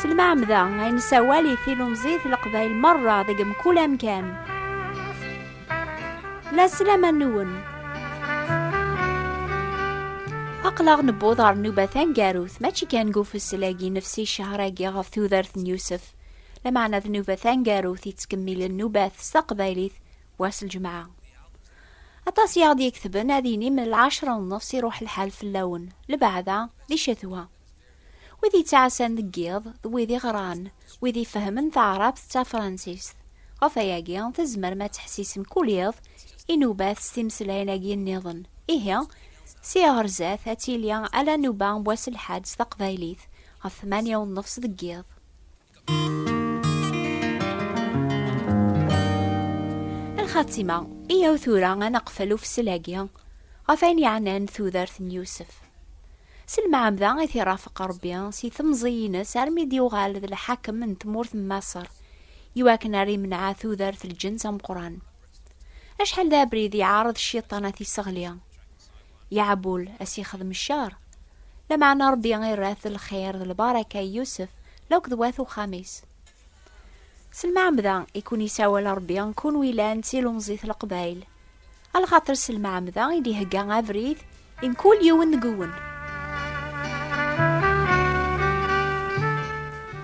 Selmaɛmda ay nessawal i tilumzit leqbayel merra deg mkul amkan. La sslam-nwen. Aqlaɣ newweḍ ɣer nnuba taneggarut, mačči kan deg ufessel-agi nefsi ccehṛ-agi ɣef tudert n Yusef, lameɛna d nnuba taneggarut yettkemmilen nnubat s taqbaylit, wass lǧemɛa. Aṭas i aɣ-d-yeketben ad inim lɛecra n nnefs iruḥ lḥal fell-awen, lbeɛda d icetwa. Wid yettɛassan deg yiḍ d wid iɣran, wid ifehmen taɛrabt d tafransist. Ɣef wayagi, tzemrem ad teḥsisem kul iḍ inubat s timeslayin-agi nniḍen. Ihi, sia ɣer zdat ad tili ala nnuba n wass lḥad s taqbaylit, ɣef tmanya u nnefs deg yiḍ. lxatima iyaw tura ad neqfel ufsel-agi ɣef ayen yeɛnan tudert n Yusef. S lmeɛmda i t-irafeq Rebbi si temẓi-ines armi d-yuɣal d lḥakem n tmurt n Maṣer, iwakken ar imneɛ tudert lǧens ameqran. Acḥal d abrid yeɛreḍ cciṭan ad t-isseɣli. Yeɛbul a s-yexdem ccer. Lameɛna Ṛebbi irra-t lxir d lbaraka i Yusef d akk d wat uxxam-is. S lmeɛmda i ken-isawal Ṛebbi kunwi llan d tilemẓi t Leqbayel, a lxaṭer s lmeɛmda i d-ihegga abrid i mkul yiwen deg-wen.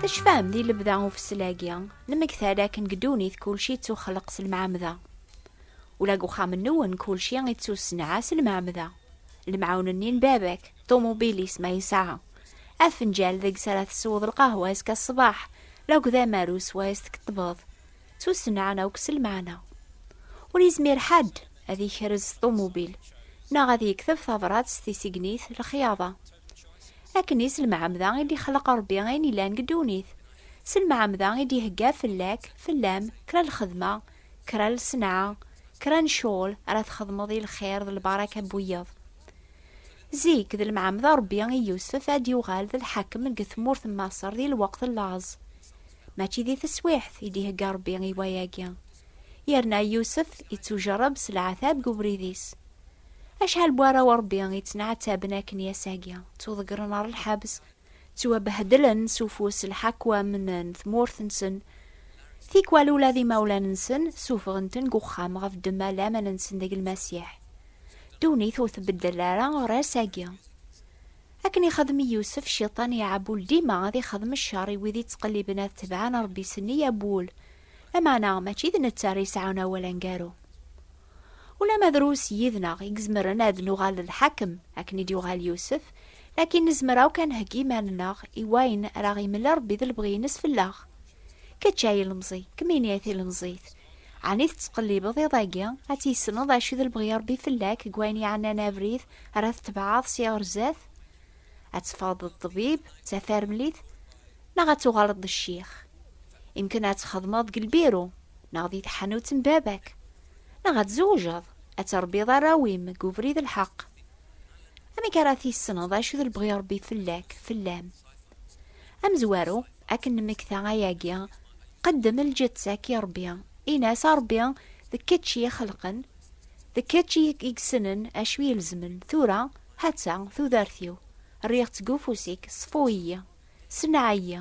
Tecfam di lebda ufessel-agi, nemmekta-d akken deg ddunit kulci yettuxleq s lmeɛmda. Ula deg uxxam-nwen kulci ittusenɛa s lmeɛmda. Lemɛun-nni n baba-k, ṭumubil-is ma yesɛa, afenǧal deg-s ara tesweḍ lqahwa azekka ṣṣbeḥ, akked amaru s wayes tkeṭṭbeḍ, ttusenɛan akk s lmeɛna. Ur yezmir ḥedd ad ikrez s ṭumubil neɣ ad yekteb tabrat s tisegnit, lexyaḍa. Akken i s lmeɛmda i d-ixleq Rebbi ayen yellan deg ddunit, s lmeɛmda i d-ihegga fell-ak, fell-am, kra n lxedma, Kra n lsenɛa, kra n ccɣel ara txedmeḍ i lxir d lbaraka n wiyaḍ. Zik, d lemɛamda Rebbi i Yusef ad yuɣal d lḥakem deg tmurt n Maṣer di lweqt n laẓ. Mačči di teswiɛt i d-ihegga Rebbi i wayagi. Yerna Yusef ittujerreb s leɛtab deg ubrid-is. Acḥal n warraw n Rebbi i ttneɛtaben akken i ass-agi, ttuḍeggren ɣer lḥebs, Ttwabehdlen s ufus lḥakwam n tmurt-nsen. Tikwal ula d imawlan-nsen ssufɣen-ten deg uxxam ɣef ddemma n laman-nsen deg Lmasiḥ. Ddunit ur tbeddel ara ɣer ass-agi. Akken ixdem i Yusef, Cciṭan iɛewwel dima ad ixdem ccer i wid yettqelliben ad tebɛen Rebbi s neyya n wul. Lameɛna, mačči d netta ara yesɛun awal aneggaru. Ulamma drus yid-neɣ i izemren ad nuɣal d lḥakem akken i d-yuɣal Yusef, lakin nezmer akk ad nheggi iman-nneɣ i wayen ara aɣ-yemel Rebbi d lebɣi-ines fell-aɣ. Kečč a ilemẓi, kemmini a tilemẓit, ɛni tettqellibeḍ iḍ-agi ad tissneḍ acu i d lebɣi Rebbi fell-ak deg wayen yeɛnan abrid ara tetbeɛeḍ si ɣer zdat? ad teffɣeḍ d ṭṭbib d tafarmlit neɣ ad tuɣaleḍ d ccix. Imken ad txedmeḍ deg lbiru neɣ di tḥanut n baba-k, neɣ ad tzewjeḍ, ad terbiḍ arraw-im deg ubrid lḥeq. Amek ara tissneḍ acu d lebɣi Ṛebbi fell-ak, fell-am? Amezwaru, akken nemmekta ayagi, qeddem lǧeţţa-k i Ṛebbi, in-as a Ṛebbi d kečč i ixelqen, d kečč i yessnen acu ilezmen tura, Hatta tudert-iw, rriɣ-tt deg ufus-ik, ṣfu-iyi, senneɛ-iyi,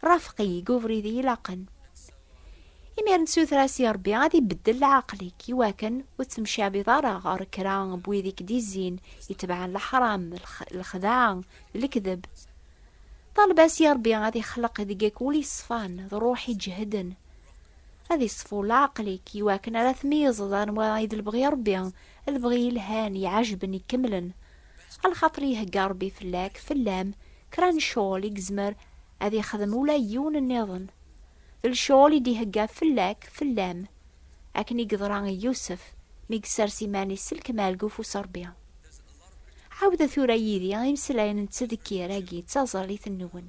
rafeq-iyi deg ubrid i ilaqen. Imir n tsutra-s i Rebbi ad ibeddel leɛqel-ik, i wakken ur ttemcabiḍ ara ɣer kra n wid i k-d-izzin, itebɛen leḥram, lexdeɛ, d lekdeb. Ṭaleb-as i Rebbi ad ixleq deg-k ul iṣfan, d ṛṛuḥ iǧehden. Ad iṣfu leɛqel-ik i wakken ara tmeyyezeḍ anwa i d lebɣi Ṛebbi, lebɣi yelhan, iɛejben, ikemlen. Alxaṭer ihegga Ṛebbi fell-ak, fell-am, kra n ccɣel i yezmer ad ixdem ula i yiwen nniḍen. D lecɣel i d-ihegga fell-ak, fell-am, akken i yeḍra i Yusef mi yessers iman-is s lekmal deg ufus Ṛebbi. Ɛawdet tura yid-i imeslayen n ttdekkir-agi d taẓallit-nwen.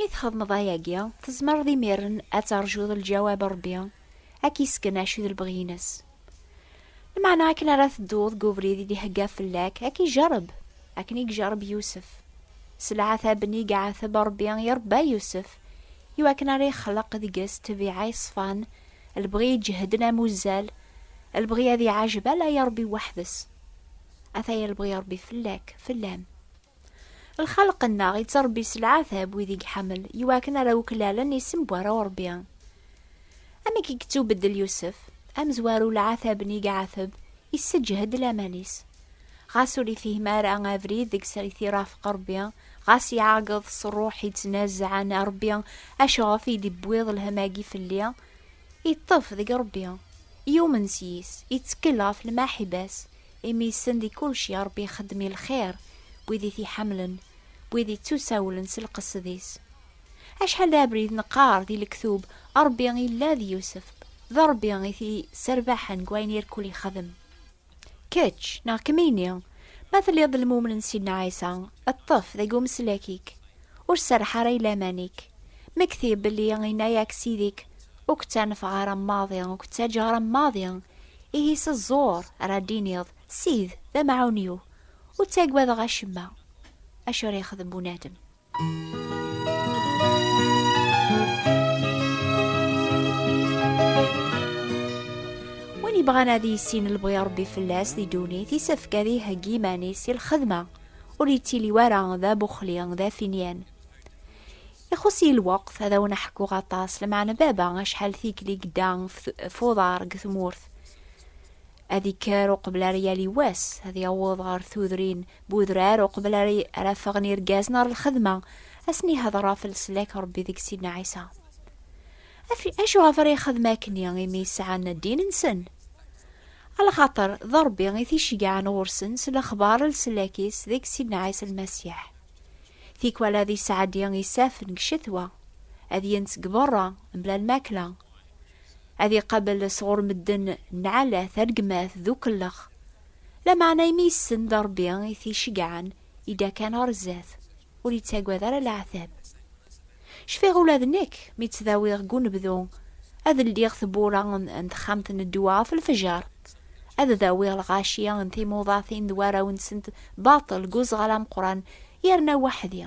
Mi txedmeḍ ayagi, tezmereḍ imiren ad terjuḍ lǧawab Rebbi, ad k-isken acu d lebɣi-ines. Lmeɛna akken ara tedduḍ deg ubrid i d-ihegga fell-ak, ad k-ijareb, akken i ijareb Yusef. Selɛa tabni i iɛateb Rebbi i irebba Yusef, i wakken ara ixleq deg-s ṭṭbiɛa iṣfan, lebɣi iǧehden am uzzal, lebɣi ad iɛajeb ala i Ṛebbi weḥd-s. Ataya lebɣi n Ṛebbi fell-ak, fell-am. Lxalq-nneɣ ittṛebbi s leɛtab wid i iḥemmel i wakken ara uklalen isem n warraw n Ṛebbi. Amek i yettubeddel Yusef? Amezwaru leɛtab-nni i iɛateb Isseǧhed laman-is. Ɣas ur ifhim ara abrid deg srit irafeq Rebbi, ɣas iɛageḍ s ṛṛuḥ ittnazaɛen, a Rebbi, acuɣef i d-iwwiḍ lhem-agi fell-i? Iṭṭef deg Rebbi, yumen s yis, ittekkel ɣef lmaḥiba-s, imi issen di kulci Rebbi ixeddem i lxir n wid i t-iḥamlen, n wid ittusawlen s lqesd-is. Acḥal d abrid neqqar di lektub, Ṛebbi illa d Yusef, d Ṛebbi i t-yesserbaḥen deg wayen irkul yexdem. Kečč, neɣ kemmini, ma telliḍ d lmumen n Sidna Ɛisa, ṭṭef deg umeslak-ik, ur serreḥ ara i laman-ik, mmekti belli yenna-ak Sidi-k, ur k-ttanfeɣ ara maḍi, ur k-ttaǧǧaɣ ara maḍi, ihi s ẓẓur ara d-tiniḍ, Sid, d amɛun-iw, ur ttagadeɣ acemma acu ara yexdem bunadem. Win yebɣan ad yissin lebɣi Ṛebbi fell-as di ddunit, isefk ad iheggi iman-is i lxedma. Ur yettili wara d abuxli, d afinyan. Ixuss-iyi lweqt ad awen-ḥkuɣ aṭas, lmeɛna baba acḥal tikli gedda f uḍar deg tmurt. Ad ikker uqbel ar yali wass, ad yaweḍ ɣer tudrin Bu udrar, uqbel ara ffɣen irgazen ɣer lxedma, asen ihder ɣef leslak Rebbi deg Sidna Ɛisa. Acu ɣef ara ixedem akken imi sɛan ddin-nsen? Alxaṭer, d Rebbi i t-iceggɛen ɣur-sen s lexbar leslak-is deg Sidna Ɛisa Lmasiḥ. Tikwal ad isɛeddi isafen deg ccetwa, ad yens deg berra, mebla lmakla, ad iqabel sɣur medden nnɛalat, rregmat d ukellex, Lameɛna imi yessen d Ṛebbi i t-iceggɛen, yedda kan ɣer zdat, ur yettagad ara leɛtab. Cfiɣ ula d nekk, mi ttdawiɣ deg unebdu, ad ldiɣ tewwura n texxamt n ddwa ɣef lfejer, ad dawiɣ lɣaci n timuḍatin d warraw-nsent baṭel deg uzɣal ameqqran, yerna weḥd-i.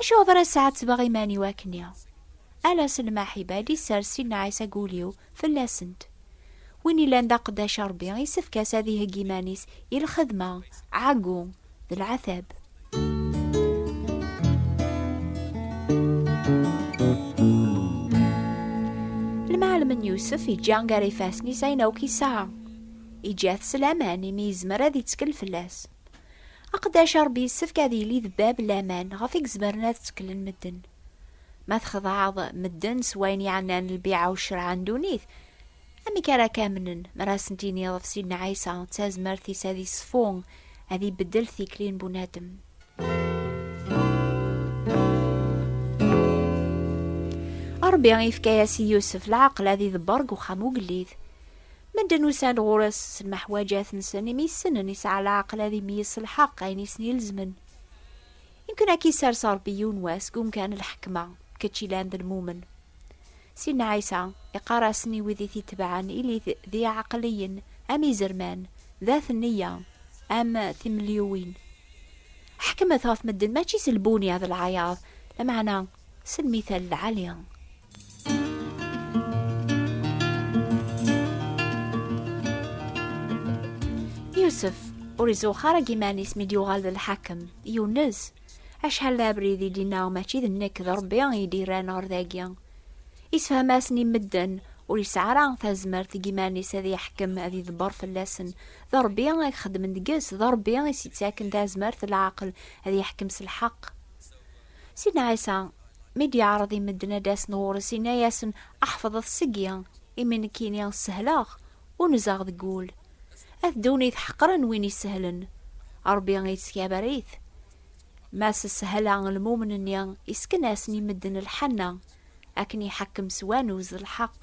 Acuɣer ara s-ɛettbeɣ iman-iw akkenni? Ala s lmaḥibat i sers Sidna Ɛisa deg ul-iw fell-asent. Win yellan d aqeddac i Ṛebbi isefk-as ad iheggi iman-is i lxedma, ɛeggu, d leɛtab. Lmɛellem n Yusef iǧǧa gar ifassen-is ayen akk yesɛa. Iǧǧa-t s laman imi yezmer ad ittkel fell-as. Aqeddac i Ṛebbi yessefk ad yili d bab n laman ɣef i izemren ad tteklen medden. Ma txedɛeḍ medden s wayen yeɛnan lbiɛa u ccerɛa n ddunit, amek ara k-amnen mi ara asen-tiniḍ ɣef Sidna Ɛisa d tazmert-is ad iṣfu, ad ibeddel tikli n bunadem? Ṛebbi yefka-yas i Yusef leɛqel ad idebber deg uxxam ugellid. Medden usan-d ɣur-s s lmeḥwaǧat-nsen imi ssnen yesɛa leɛqel ad imyis s lḥeqq ayen i sen-ilezmen. Yemken ad k-isers Ṛebbi yiwen wass deg umkan n lḥekma, kečč yellan d lmumen. Sidna Ɛisa iqqar-asen i wid i t-itebɛen, Ilit d iɛeqliyen, am izerman, d at nneyya, am timelyuwin. Ḥekmet ɣef medden, mačči s lbunya d lɛayaḍ, lameɛna s lmithal lɛali. Yusef ur izuxx ara deg iman-is mi d-yuɣal d lḥakem, yunez. Acḥal d abrid i d-inna mačči d nekk d Rebbi i d-irran ɣer dagi. Isefham-asen i medden, ur yesɛi ara tazmert deg iman-is ad yeḥkem ad yedber fell-asen. D Rebbi i ixeddmen deg-s, d Rebbi i s-yettaken tazmert d leɛqel ad yeḥkem s lḥeqq. Sidna Ɛisa, mi d-yeɛreḍ i medden ad d-asen ɣur-s, inna-yasen, Ḥefḍet seg-i, imi nekkini sehleɣ, ur nzeɣ deg wul. A ddunit ḥeqren win isehlen, Ṛebbi yettkabar-it. Mass sehel-a lmumen-nni, yessken-asen i medden lḥenna. Akken iḥekkem s wanuz lḥeqq.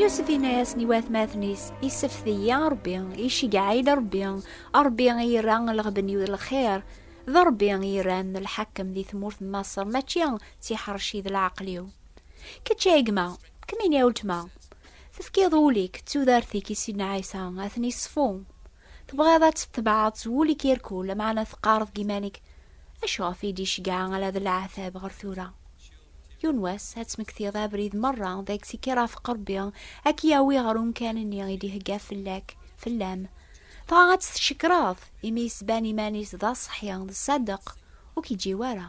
Yusef yenna-yasen i watmaten-is, Isefti-yi Ṛebbi, iceggeɛ-iyi-d Ṛebbi, Ṛebbi i yerra lɣeben-iw d lxir, d Ṛebbi i yerran lḥakem di tmurt n Maṣer, mačči d tiḥerci d leɛqel-iw. Kečč ay gma, kemmini a weltma, tefkiḍ ul-ik d tudert-ik i Sidna Ɛisa, ad ten-iṣfu. Tebɣiḍ ad tetbeɛeḍ s wul-ik irkul, lameɛna teqqareḍ deg iman-ik, Acu ɣef i d-iceggeɛ ala d leɛtab ɣer tura? Yiwen n wass, ad tmektiḍ abrid merra deg-s i k-irafeq Rebbi, ad k-yawi ɣer umkan-nni i d-ihegga fell-ak, fell-am. Dɣa ad t-tcekkreḍ, imi yettban iman-is d aṣeḥḥi, d ṣṣadeq, ur k-iǧǧiw ara.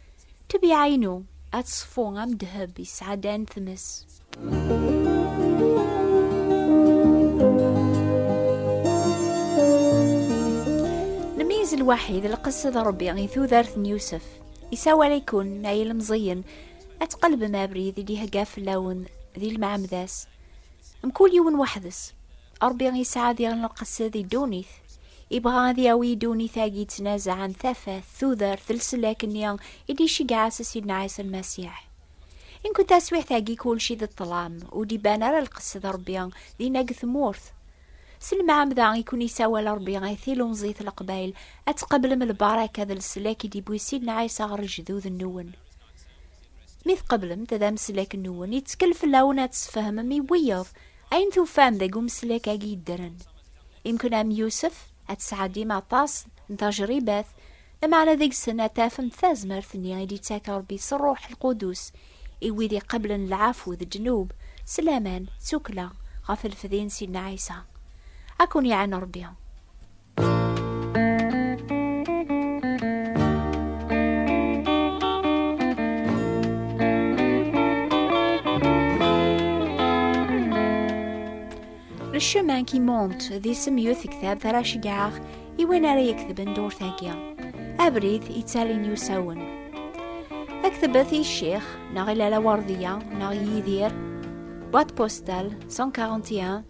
Ṭṭbiɛa-inu ad teṣfu am ddheb yesɛeddan tmes. Nmeyyez lwaḥi d lqess d Ṛebbi i tudert n Yusef. Isawal-ikun ay ilemẓiyen ad tqelbem abrid i d-ihegga fell-awen di lmeɛmeda-s. Mkul yiwen weḥd-s. Ṛebbi yesɛa diɣen lqesd i ddunit. Ibɣa ad yawi ddunit-agi yettnazaɛen tafat, tudert, leslak-nni i d-iceggeɛ s Sidna Ɛisa Lmasiḥ. Inked taswiɛt-agi kulci d ṭṭlam, ur d-iban ara lqesd n Ṛebbi dinna deg tmurt. S lemɛamda i ken-isawal Ṛebbi ay tilemẓit n Leqbayel ad tqeblem lbaraka d leslak i d-iwwi Sidna Ɛisa ɣer lejdud-nwen. Mi tqeblem-t d ameslak-nwen, yettkel fell-awen ad tesfehmem i wiyeḍ Ayen tufam deg umeslak-agi yeddren, imken am Yusef ad tesɛeddim aṭas n tajribat, lameɛna deg-sen ad tafem tazmert-nni i d-yettak Rebbi s Ṛṛuḥ Lqudus i wid iqebblen lɛafu d ddnub s laman d tukkla ɣef lfedi n Sidna Ɛisa. Ad ken-iɛen Ṛebbi! Le chemin qui monte d isem yut ktab taraceggaɣ i win ara yeketben durt-agi. Abrid yettalin yusawen. Ad ketbet i ccix, neɣ i Lala Werdiya, neɣ Yidir, boîte postale 141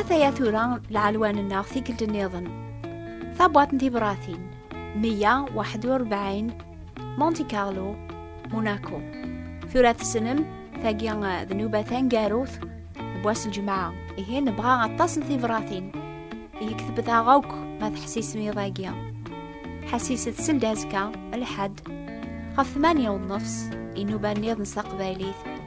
Ataya tura lɛelwan-nneɣ tikkelt nniḍen. Tabwaṭ n tibratin 141 Monte Carlo, Monaco. Tura tessnem tagi d nuba tangarut n wass n ljemɛa. Ihi nebɣa aṭas n tibratin. Ihi ketbet-aɣ akk ma teḥsisem iḍ-agi. Ḥassiset seld azekka, lḥedd, ɣef 8 u nnefs, inuba nniḍen s taqbaylit.